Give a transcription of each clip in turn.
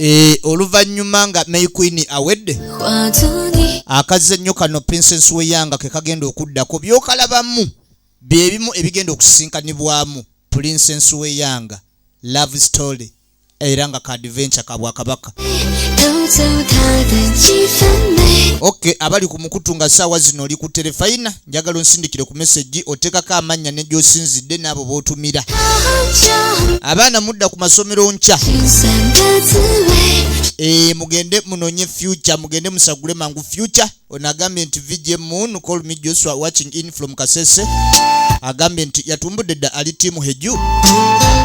Eh, oluvannyuma nga may queen awedde akazze ennyo kano princess weyanga ke kagenda okuddako byokalabamu byebimu ebigenda okusisinkanibwamu princess weyanga love story era nga kaadventure ka bwakabaka ok abali ku mukutu nga saawa zino oli ku terefayina njagala onsindikire ku mesegi oteekako amannya ne gyosinzidde n'abo b'otumira abaana mudda ku masomero nkya e, mugende munonye future mugende musagule mangu future ono agambye nti vj moon call me joshua watching in from kasese agambye nti yatumbudde dda ali tiimu heju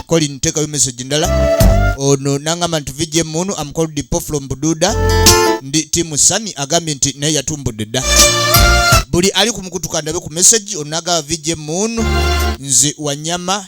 colin tekayo message ndala ono nangamba nti vj moon am called dipo from bududa ndi tiimu sani agambye nti naye yatumbudde dda buli ali kumukutuka ndabe ku message ono agaba vj moon nze wanyama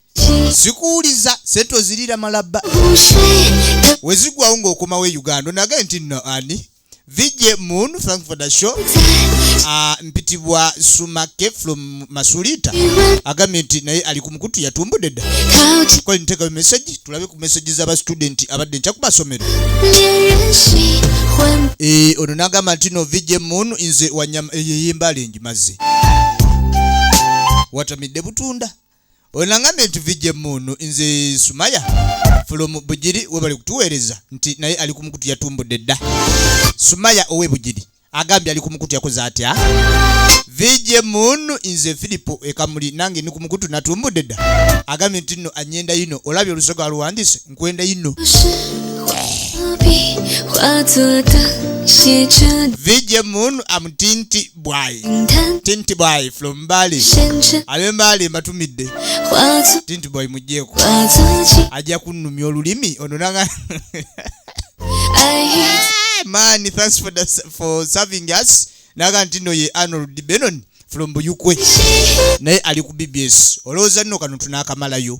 sikuwuliza sente ozirira malabba wezigwawo ngaokomawo e uganda onage nti no ani vj moon thank for the show uh, mpitibwa sumake from masulita agambye nti naye ali ku mukutu yatumbudde dda kola ntekayo meseji tulabe ku meseji zaba studenti abadde nkya ku masomero eh, ono nagamba nti no vj moon nze wanyama eh, yeyembalengi mazze watamidde butunda Oyo nangambye nti vijja emmuunu nze Sumaya from Bugiri webali kutuweereza nti naye ali ku mukutu yatumbudde dda. Sumaya owe Bugiri agambye ali ku mukutu yakoze atya? Vijja emmuunu nze Filipo ekamuli nange ni ku mukutu natumbudde dda. Agambye nti nno anyenda yino olabye olusoga aluwandiise nkwenda yino. Vijja emmuunu amutinti. bwayi tinti bwayi from mbali abe mbali mbatumidde tinti bwayi mujjeeko ajja kunnumya olulimi ono nanga maani thanks for, the, for serving us naga nti no ye arnold benon from buyukwe naye ali ku bbs olowooza nno kano tunaakamalayo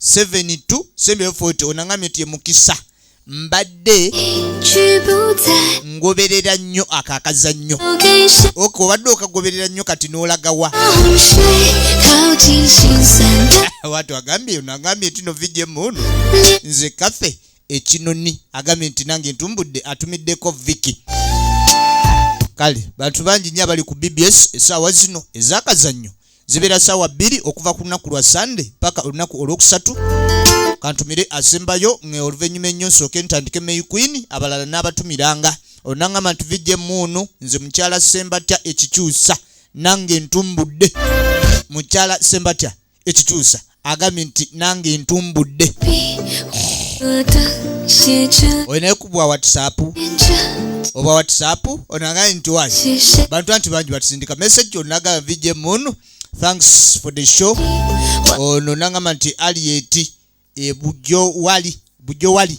72 ono aŋamye nti emukisa mbadde ngoberera nnyo ako akazannyo ok obadde okagoberera nnyo kati n'olagawa watu agambye ono agambye nti no vijemu ono nze kafe ekinoni agambye nti nange ntumbudde atumiddeko viki kale bantu bangi nnyo abali ku bbs esaawa zino ezakazannyo zibeera saawa bbiri okuva ku lunaku lwa sande paka olunaku olwokusatu kantumire asembayo nga oluvannyuma ennyo nsooke ntandike may queen abalala n'abatumiranga olunangamba nti vijja emuunu nze mukyala sembatya ekikyusa nange ntumbudde mukyala sembatya ekikyusa agambye nti nange ntumbudde oyo naye kubwa whatsapp oba whatsapp ono agambye nti wa bantu anti bangi batusindika message onaga vj moon thanks for the show ono nangamba nti alieti e, bujo wali bujo wali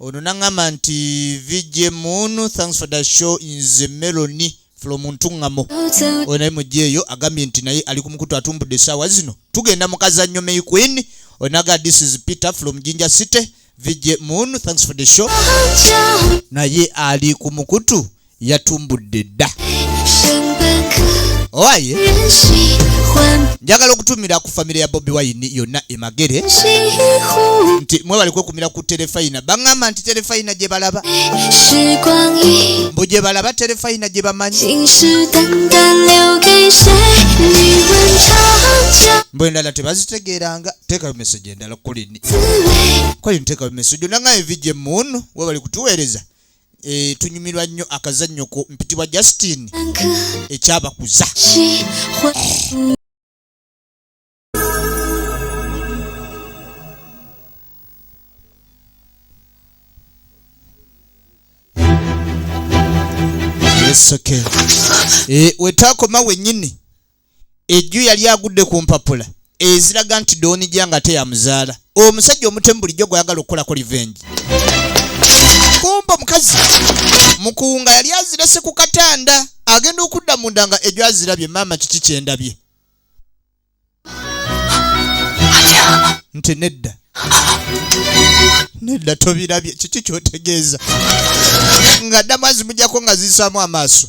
ono nangamba nti vj moon thanks for the show nze meloni from ntungamo oyo naye mugyeeyo agambye nti naye ali kumukutu atumbudde esaawa zino tugenda mukazannyo may queen onaga this is peter from jinja city vj moon thanks for the show naye ali kumukutu yatumbudde dda owaye njagala okutumira ku famire ya bobi wayini yonna emagere nti mwebali kwekumira ku terefayina baŋŋamba nti terefayina gye balaba mbu gye balaba terefayina gye bamanyi mbu endala tebazitegeeranga teekayo meseji endala kulini kwali nteekayo meseji onaŋayo vijje muunu webali kutuweereza eh, tunyumirwa nnyo akazannyo ko mpitibwa justin ekyabakuza Eh, wetaakoma wennyini ejju yali agudde ku mpapula eziraga nti doonija nga teyamuzaala omusajja omutemu bulijjo gweyagala okukolako livengi kumba omukazi mukuwunga yali azirese ku katanda agenda okudda munda nga ejju azirabye maama kiki kyendabye nti nedda nedda tobirabye kiki kyotegeeza nga ddamu azimujako nga ziyisaamu amaaso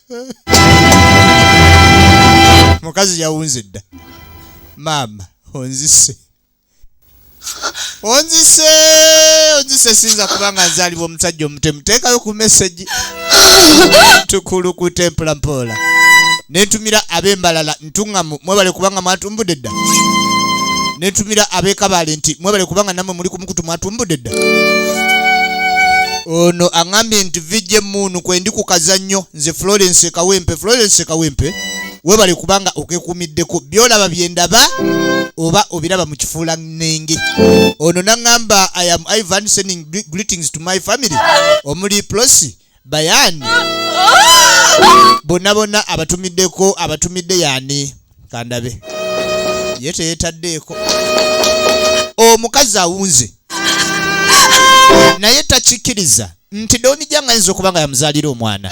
mukazi yawunze dda maama onzise onzise onzise sinza kubanga nzalibwa omusajja omutemu teekayo ku mesegi tukulukute mpolampola nentumira ab'embalala ntuŋŋamu mwebale kubanga mwatumbudde dda ne ntumira ab'ekabaale nti mwebale kubanga nammwe muli ku mukutu mwatumbudde dda ono aŋambye nti vijje muunu kwendi ku kazannyo nze florence kawempe florence kawempe webale kubanga okekuumiddeko byolaba byendaba oba obiraba mu kifuula nnenge ono naŋŋamba i am ivan sending greetings to my family omuli prosi bayani bonna bonna abatumiddeko abatumidde yani kandabe ye teyetaddeeko omukazi awunze naye takikkiriza nti donija nga ayinza okuba nga yamuzaalira omwana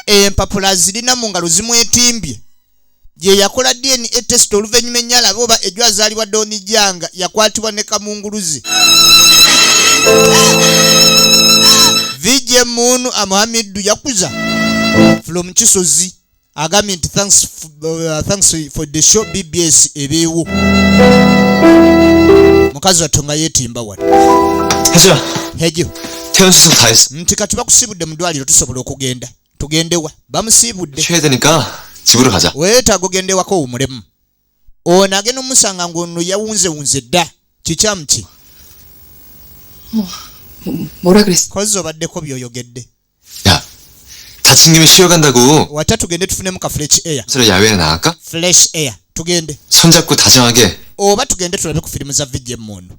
empapula zirina mu ngalo zimwetimbye gye yakola dna test oluvannyuma enyalaba oba ejo azaalibwa doni janga yakwatibwa ne kamunguluzi vj munu amuhamiddu yakuza from kisozi agambye nti thanks, uh, thanks for the show bbs ebeewo mukazi wattu nga yeetimba wano hejo nti kati bakusibudde mu ddwaliro tusobola okugenda tugendewa bamusiibudde weetaaga ogendewako owumulemu ono agenda omusanga ngaono yawunzewunze dda kikyamu ki kozi obaddeko byoyogedde wata tugende tufunemu ka fresh air fresh air tugende oba tugende tulabe ku firimu za vijemu ono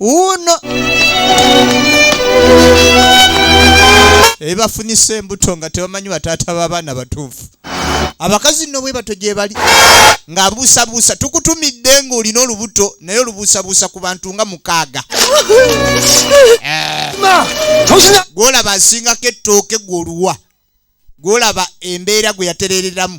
wuuno ebafunisa embuto nga tebamanyi bataata b'abaana batuufu abakazi nno bwe batyo gye bali ng'abuusabuusa tukutumidde ng'olina olubuto naye olubuusabuusa ku bantu nga mukaaga eh. gw'olaba asingako ettooke gw'oluwa gw'olaba embeera gwe yatereereramu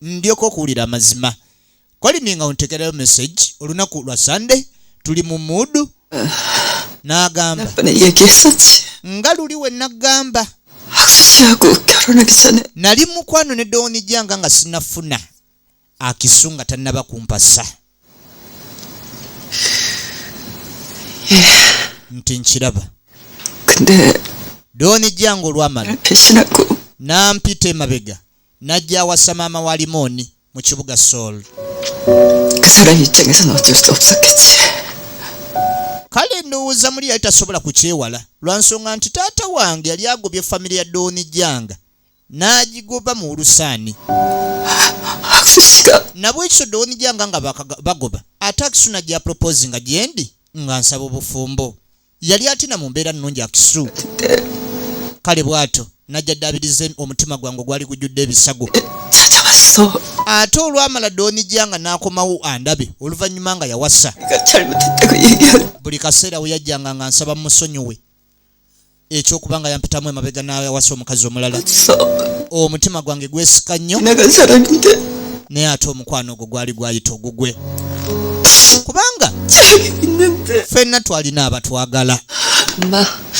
ndyoke okuwulira amazima koliminga nga ontegereyo message olunaku lwa sunday tuli mu muudu n'agamba nga luli we nagamba nali mukwano ne dowoni janga nga sinafuna akisu nga tannaba kumpasa nti nkiraba dowoni janga olwamala nampita emabega n'ajja awasa maama wa limooni mu kibuga sooli kale ndowooza muli yali tasobola kukyewala lwa nsonga nti taata wange yali agobye famire ya dooni janga n'agigoba mu ulusaani nabwekityo dooni janga nga bagoba ate akisuna gya proposi nga gyendi nga nsaba obufumbo yali atina mu mbeera nnungi akisu kale bw'atyo najja ddaabiriza omutima gwange ogwali gujjudde ebisago ate olwamala doonijja nga n'akomawo andabe oluvannyuma nga yawasa buli kaseera we yajjanga nga nsaba musonyiwe ekyokuba nga yampitamu emabega n'ayawasa omukazi omulala omutima gwange gwesika nnyo naye ate omukwano ogwo gwali gwayita ogugwe kubanga fenna twalina abatwagala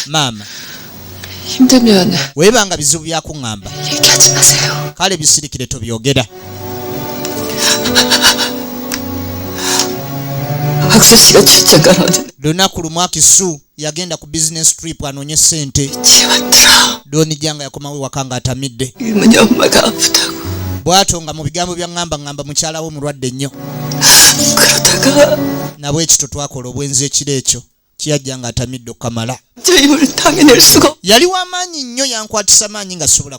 maama webanga bizibu byakuŋŋamba kale bisirikire tobyogera lunaku lumu akisu yagenda ku business trip anoonye ssente doni janga yakomawo ewaka nga atamidde bwatyo nga mu bigambo bya ŋŋamba ŋŋamba mukyalawo omulwadde nnyo nabwekityo twakola obwenzi ekiro ekyo kiyajja nga atamidde okukamala yali wamaanyi nnyo yankwatisa maanyi nga sobola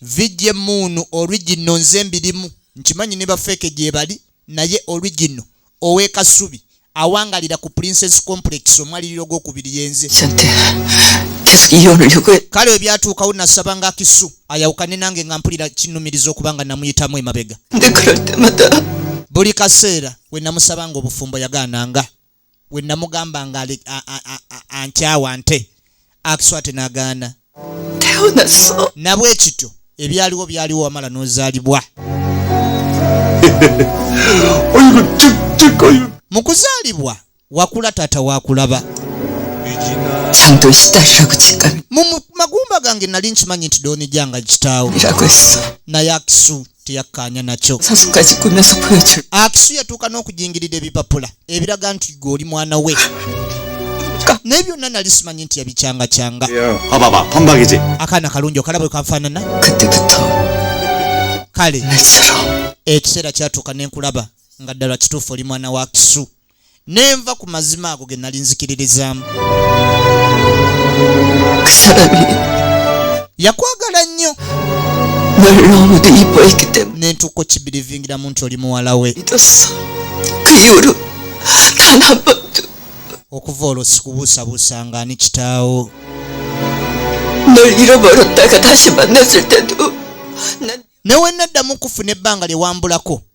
vijja emuunu original nze mbirimu nkimanyi ne bafeeke gyebali naye original owekasubi awangalira ku princess complex omwaliriro gwokubiri yenze kale ebyatuukawo nasaba nga kisu ayawukane nange nga mpulira kinumiriza okuba nga namuyitamu emabega buli kaseera wenamusabanga obufumbo yagaananga we namugamba nga ankyawa nte akiswate nagaana nabwe ekityo ebyaliwo byaliwo wamala nozalibwa mu kuzaalibwa wakula taata wakulaba mu magumba gange nali nkimanyi nti donijanga kitaawo naye akisu teyakkaanya nakyo akisu yatuuka n'okujingirira ebipapula ebiraga nti gwe oli mwana we naye byonna nali simanyi nti yabikyangakyanga akaana kalungi okalaba bwe kafaanana kale ekiseera kyatuuka ne nkulaba nga ddala kituufu oli mwana wa kisu nenva ku mazima ago ge nali nzikiririzaamu yakwagala nnyo nentuuka okibirivingiramu nti oli muwala we okuva olwo sikubuusabuusa nga ani kitaawo newenaddamu kufuna ebbanga lyewambulako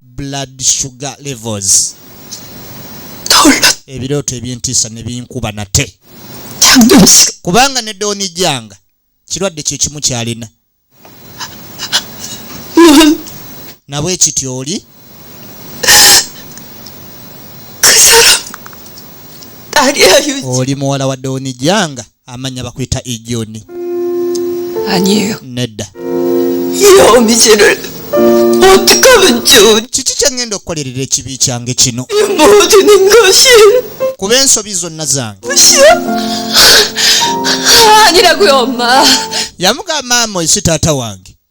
blood sugar levels ebirooto ebyentiisa ne binkuba nate kubanga ne dooni janga kirwadde kye kimu kyalina nabwe kiti oli oli muwala wa dooni janga amanya bakuyita ijoni anieyo nedda yomikire otikabajoni kiki kyengenda okukolerera ekibi kyange kino emoti ningoshi kuba ensobi zonna zange agira gwoma yamugamba maama oyo si taata wange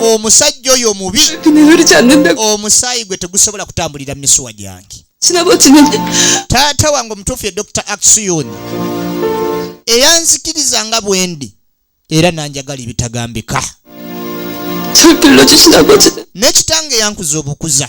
omusajja oyo mubi omusaayi gwe tegusobola kutambulira mu misuwa gyange taata wange omutuufu ye dr aksiyoni eyanzikiriza nga bwendi era nanjagala ebitagambika n'ekitange yankuza obukuza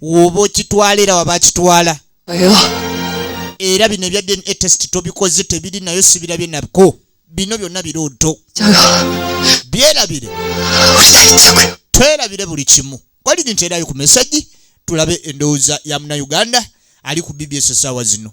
woba okitwala era waba akitwala era bino ebya dna test tobikoze tebiri nayo sibirabye nabko bino byonna birooto byerabire twerabire buli kimu kwaliri nti erayo ku mesagi tulabe endowooza ya munauganda ali ku bbs esaawa zino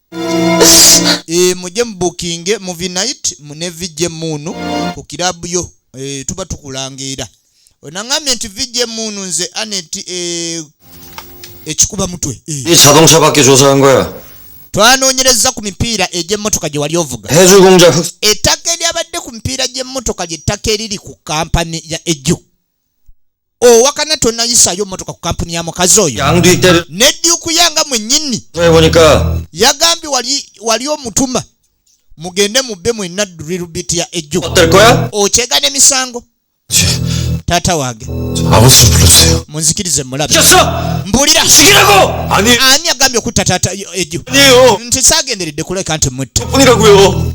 e, mujje mubukinge muvi night mune vijje muunu ku kirabu yo e, tuba tukulangeera onangambye nti vijje muunu nze anet e, eh, ekikuba mutwe e. twanoonyereza ku mipiira egy'emmotoka gye wali ovuga ettaka eryabadde ku mipiira gy'emmotoka ly'ettaka eriri ku kampani ya eju owakana tonayisayo motoka ku kampuni ya mukazi oyo nedyukuyanga mwenyini yagambye wali omutuma mugende mubbe mwenna dulirubiti ya ejju okyega nemisango taata wange munzikirize mulabe mbulira ani agambye okutta taata ejo nti sagenderedde kuleka nti mutte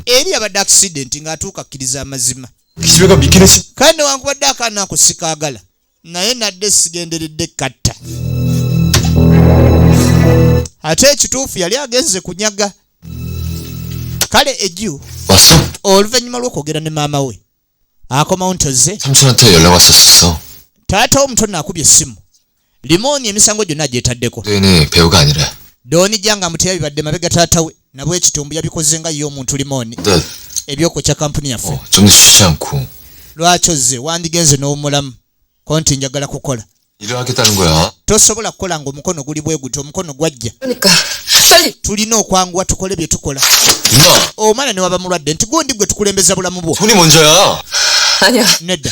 eri abadde accidenti ng'atuuka akkiriza amazima kale newankubadde akaana ako sikaagala naye nadde sigenderedde katta ate ekituufu yali agenze kunyaga kale eju oluvannyuma lw'okwogera ne maama we akomawo nti ozze taata omuto naakubye essimu Limooni emisango gyonna gyetaddeko. Dooni janga mutya bibadde mabega taata we nabwe ekitumbu yabikoze nga ye omuntu Limooni ebyokukya kampuni yaffe. Oh, Lwaki ozze wandigenze n'omulamu ko nti njagala kukola. Tosobola kukola ng'omukono guli bwe gutyo omukono gwajja. Tulina okwanguwa tukole bye tukola. Omwana ne waba mulwadde nti gundi gwe tukulembeza bulamu bwo. Nedda.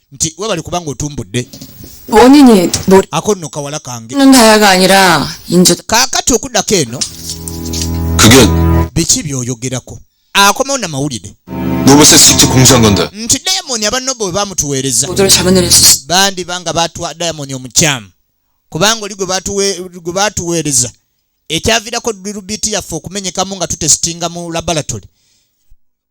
nti webali kubanga otumbudde ako nno kawala kange kakati okudako eno biki byoyogerako akomawo namawulire nti dayamoni abanobo bwe bamutuweereza bandi banga batwa dayamoni omukyamu kubanga oli gwe batuweereza ekyavirako lirubiti yaffe okumenyekamu nga tutesitinga mu laboratory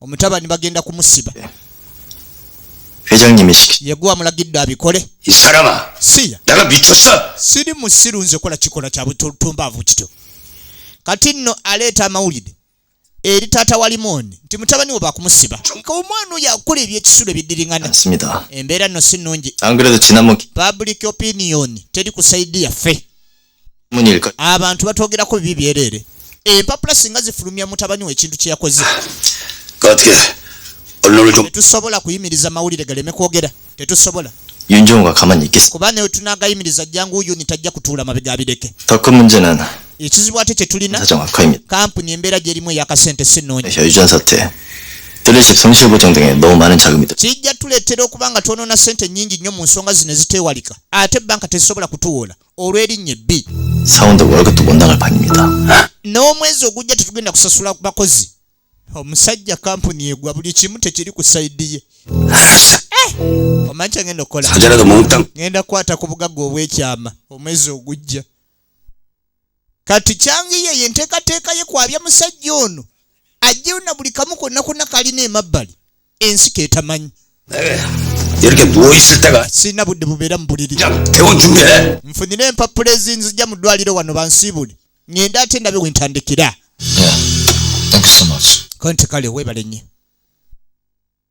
omutabani bagenda kumusiba yeguwa mulagidde abikole siya siri musiru nze kola kikola kya butumbaavu kityo kati nno aleeta amawulire eri taata wa limooni nti mutabani we bakumusiba ka omwana oyo akola ebyekisulo ebidiringana embeera nno si nnungi public opinion teri ku saidi yaffe abantu batwogerako bibi byereere empapula singa zifulumya mutabani we ekintu kyeyakoze tetusobola kuyimiriza mawulire galeme kwogera tetusobola kuba naye tunagayimiriza jangu yuni tajja kutuula mabega abireke ekizibu ate kyetulina kampuni embeera gyerimu eyakasente sinungi kijja tuleetera okuba nga twonona sente nyingi nnyo mu nsonga zino ezitewalika ate banka tezisobola kutuwoola olw'erinnya ebbi n'omwezi ogujja tetugenda kusasula ku bakozi omusajja kampuni egwa buli kimu tekiri ku saidi ye eh! omanyi kyengenda okukola ngenda kukwata ku bugagga obw'ekyama omwezi ogujja kati kyangiyo eyo enteekateeka ye kwabya musajja ono ajjeyo na buli kamu konna konna kalina emabbali ensi ketamanyi eh, sirina budde bubeera mu buliri eh? nfunire empapula ezinzija mu ddwaliro wano bansiibule ngende ate ndabe wentandikira konti kale weebale nnyo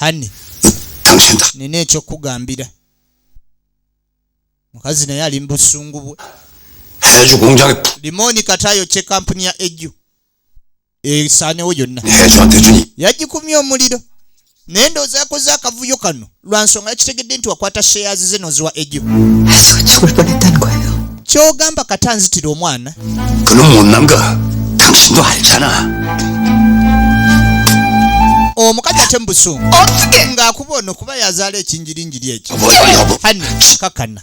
hani nina ekyokugambira mukazi naye ali mubusungu bwe limoni kati ayokye kampuni ya eju esaanewo yonna yagikumya omuliro naye ndowooza yakoze akavuyo kano lwa nsonga yakitegedde nti wakwata sheyazi ze noziwa ejo kyogamba kati anzitira omwana omukazi ate mubusungu ng'akuba ono kuba yazaala ekinjirinjiri ekyo kakana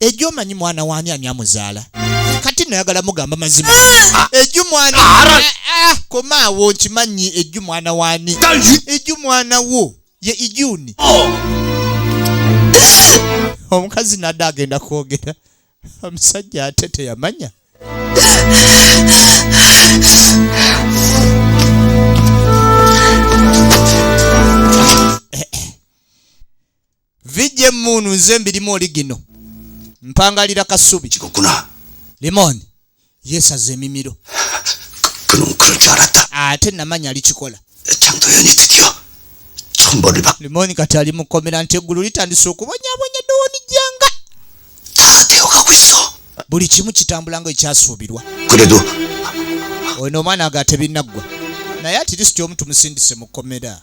ejo omanyi mwana wani ani amuzaala kati nayagala mugamba mazima ah! eju mwana ah, ah, komaawo nkimanyi eju mwana wani eju mwana wo ye ijuni oh. omukazi nada agenda kwogera omusajja ate teyamanya vijje muunu nze mbirimu oli gino mpangalira kasubi limoni yesaza emimiro ate namanya alikikola limoni kati ali mukomera nti eggulu litandise okubonyabonya dowoni janga buli kimu kitambula nga ekyasuubirwa ono omwana agatebinaggwa naye atirisiti omu tumusindise mu kkomera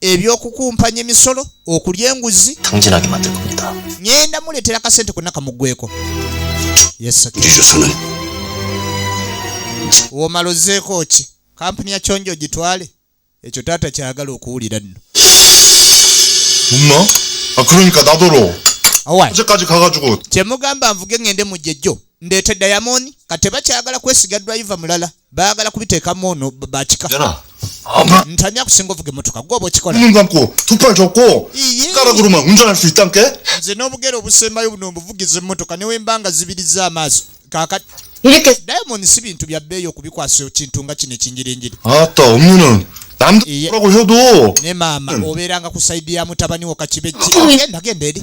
ebyokukumpanya emisolo okulya enguzi ngenda muleetera kasente konna kamuggweko womala ozeeko ki kampuni ya kyonjo ogitwale ekyo taata kyagala okuwulira nno kyemugamba nvuge ngende mujjejjo ndeete dayamoni ka tebakyagala kwesiga driva mulala bagala kubiteekamu ono bakika ntani akusinga ovuga emotoka gwoba okikolanze n'obugere obusembayo buno obuvugiza emotoka newembanga zibiriza amaaso kakati diamond si bintu bya bbeeyi okubikwasa kintu nga kino ekinjirinjiri ne maama hmm. obeeranga ku saidi ya mutabani wo kakibegenda genda eri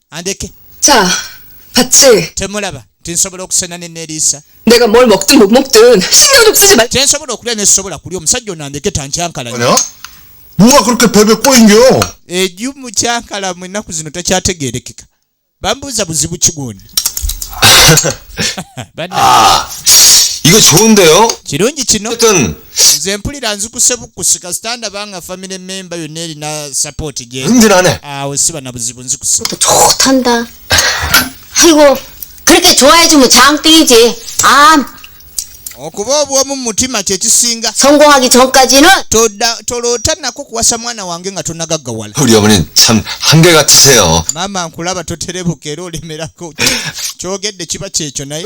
andeke temulaba nti nsobola okusena ne neriisa kyensobola okulya nesobola kulya omusajja ono andeke tankyankalanya eju mukyankala mu ennaku zino takyategerekeka bambuuza buzibu kigoni ah, ah, kirungi kino nze mpulira nzikuse bukusi kasita ndaba nga family member yonna erina support gyeawo siba na buzibu nzikuse okuba obwomu mumutima kyekisinga toloota nako kuwasa mwana wange nga tonagaggawala maama nkulaba toterebuka era olemerako kyogedde kiba kyekyo naye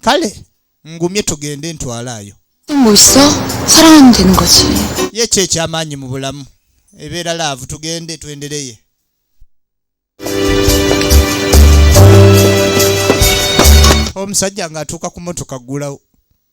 kale ngumye tugende ntwalaayo ye ki ekyamaanyi mu bulamu ebeera laavu tugende twendereye omusajja ng'atuuka ku motoka ggulawo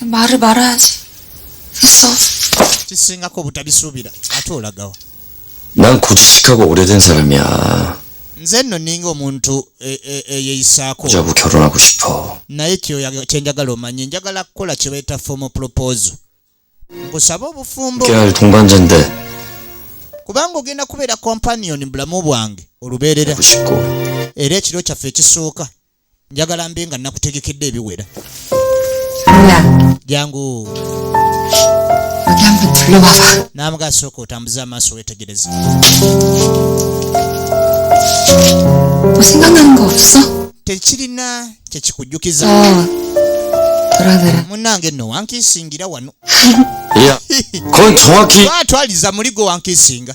Bari barazi. So. Kisingako obutabisuubira ate olagawa. Nan kujisikako kuleta ensalami ya. Nze nno ninga omuntu e, e, eyeyisaako. Oja kukyalona ku kipo. Naye kye njagala omanye njagala kukola kye bayita formal proposal. Nkusaba obufumbo. Kyali tunganja nde. Kubanga ogenda kubeera companion bulamu bwange olubeerera. Era ekiro kyaffe ekisooka. njagala mbe nga nakutegekedde ebiwera jangu namuga sooka otambuze amaaso wetegereze tekirina kyekikujjukiza munange no wankisingira wano twaliza muligo wankisinga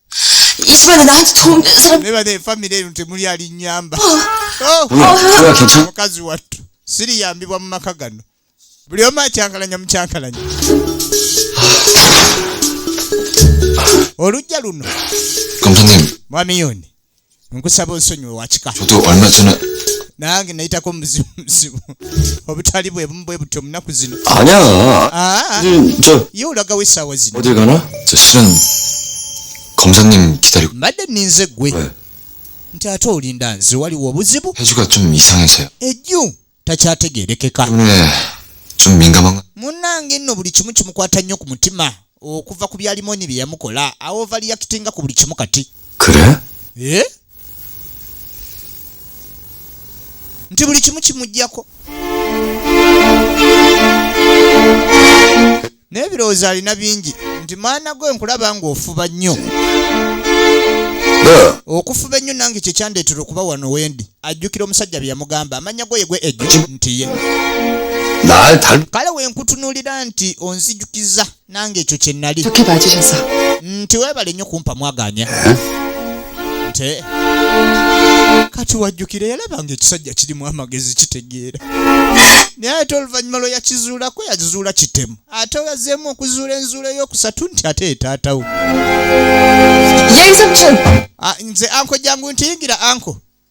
neba ne famire eno temuli alinyamba oh. oh. mukazi wattu siriyambibwa mu maka gano buli omu akyankalanya mukyankalanya olujja luno mwami yoni nkusaba onsonyiwe wakika nange nayitako omuzibuzibu obutali bwe bumu bwe butyo munaku zino ah, ye olagawo esaawa zino mbadde ninze gwe nti ate olinda nze waliwo obuzibu ejju takyategeerekeka munnange nno buli kimu kimukwata nnyo ku mutima okuva ku bya limoni bye yamukola awovaliyakitenga ku buli kimu kati eh? nti buli kimu kimugyako naye ebirowoozo alina bingi nti maana gwe nkulaba ng'ofuba nnyo okufuba ennyo nange kyekyandeetera okuba wano wendi ajjukira omusajja bye yamugamba amanya goye gwe ejjo nti ye kale wenkutunuulira nti onzijukiza nange ekyo kye nnali nti weebale nnyo kumpa mwaganya eh? nte kati wajjukira yalaba nga ekisajja kirimu amagezi kitegeera naye ate oluvannyuma lwe yakizuulako yakizuula kitemu ate yazeemu okuzuula enzuula ey'okusatu nti ate etaatawo ah, nze anko jangu ntiyingira anko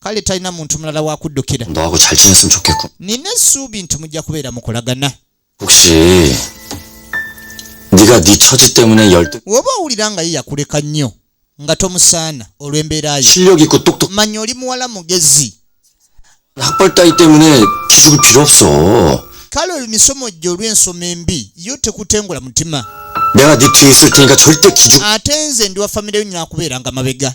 kale talina muntu mulala wakuddukira nina essuubi nti mujja kubeera mukulagana woba owulira nga ye yakuleka nnyo nga tomusaana olw'embeera yo manya oli muwala mugezi kale oyo misomo gye olw'ensoma embi yo tekutengula mutima ate nze ndi wa famireyo nyakubeeranga mabega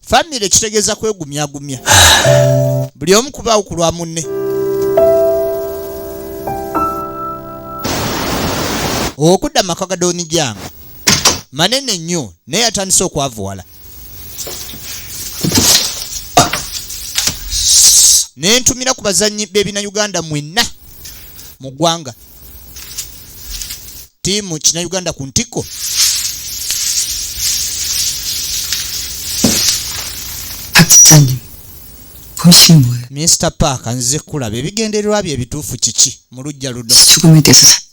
famire kitegeeza kwegumyagumya buli omu kubaawo ku lwa munne okudda maka ga donijanga manene nnyo naye atandise okwavuwala ne ntumira ku bazannyi b'ebina uganda mwenna mu ggwanga ttiimu kinauganda ku ntikko minisita paaka nzize kulaba ebigendererwa bye ebituufu kiki mu lujja luno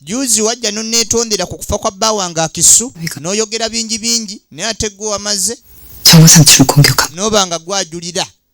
juzi wajja noneetondera ku kufa kwa bba wange akisu n'oyogera bingi bingi naye ate gwe wamaze noba nga gwajulira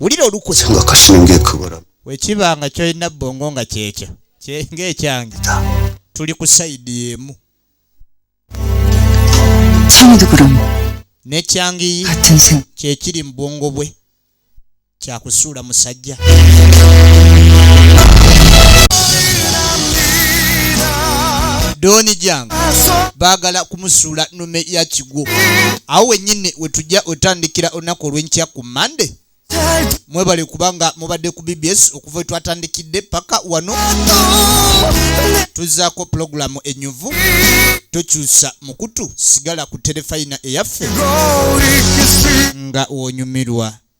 wulira olukusa nga kasino ng'ekabalamu wekiba nga kyolina bongo nga kyekyo ng'ekyange tuli ku sayidi emu nekyangiyi kyekiri mu bwongo bwe kyakusuula musajja dooni jange baagala kumusuula nume ya kigwo awo wenyini wetujja wetandikira olunaku olwenkyaku monday mwebale kubanga mubadde ku bbs okuva wetwatandikidde paka wano tuzaako pulogulamu enyuvu tokyusa mukutu sigala ku terefayina eyaffe nga wonyumirwa